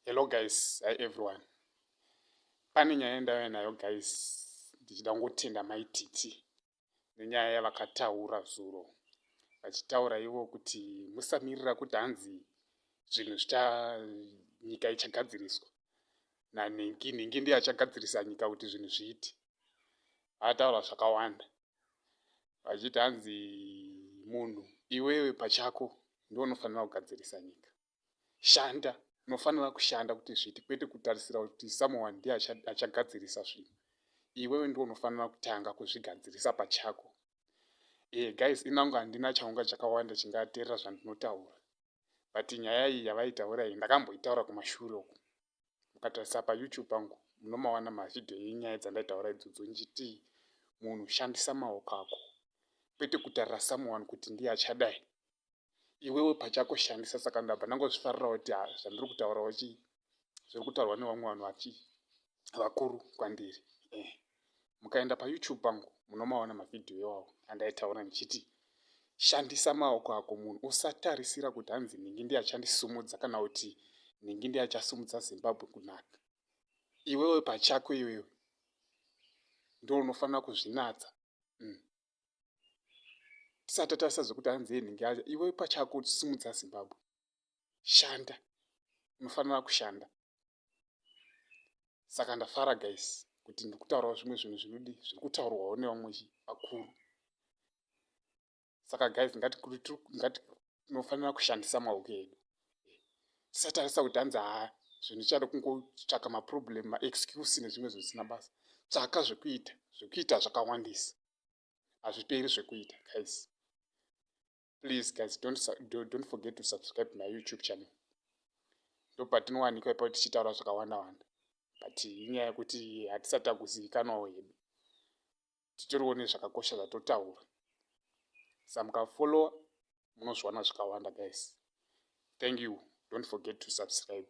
Hello guys, hi everyone. Pane nyaya yandauya nayo guys, ndichida kungotenda mai Titi nenyaya yavakataura zuro vachitaura ivo kuti musamirira kuti hanzi zvinhu zvicha nyika ichagadziriswa nanhingi nhingi ndiye achagadzirisa nyika kuti zvinhu zviiti vataura zvakawanda vachiti hanzi munhu iwewe pachako ndiwo unofanira kugadzirisa nyika shanda unofanira kushanda kuti zviiti kwete kutarisira kuti someone ndiye achagadzirisa zvinhu iwewe ndiwo unofanira kutanga kuzvigadzirisa pachako e guys inangu handina chaunga chakawanda chingaterera zvandinotaura but nyaya iyi yavaitaura iyi ndakamboitaura kumashure uku mukatarisa payoutube pangu munomawana mavhidhiyo yenyaya dzandaitaura idzodzo ndichiti munhu shandisa maoko ako kwete kutarira someone kuti ndiye achadai iwewe pachako shandisa saka ndabva ndangozvifarira kuti ah, zvandiri kutaurawo chi zviri kutaurwa nevamwe vanhu vachi vakuru kwandiri eh. mukaenda payoutube pangu munomaona mavhidhiyo iwawo andaitaura ndichiti shandisa maoko ako munhu usatarisira kuti hanzi ndingi ndiyachandisumudza kana kuti ndingi ndiyachasumudza zimbabwe kunaka iwewe pachako iwewe ndo unofanira kuzvinatsa mm. tisati tarisa zvekuti hanzi enhingi acho iwe pachako simudza zimbabwe shanda unofanira kushanda saka ndafara guys kuti ndikutaurawo zvimwe zvinhu zvinodi zviri kutaurwawo nevamwe vakuru saka guys ngati tinofanira kushandisa maoko edu tisatarisa kuti hanzi haa zvinhu chada kungotsvaka maproblem maexcuse nezvimwe zvisina basa tsvaka zvekuita zvekuita zvakawandisa hazviperi zvekuita guys please guys don't, don't forget to subscribe my youtube channel ndopatinowanikwa ipapo tichitaura zvakawanda wanda but inyaya yekuti hatisati takuzivikanwawo hedu titoriwo nezvakakosha zvatotaura sa mukafollowa munozviwana zvikawanda guys thank you don't forget to subscribe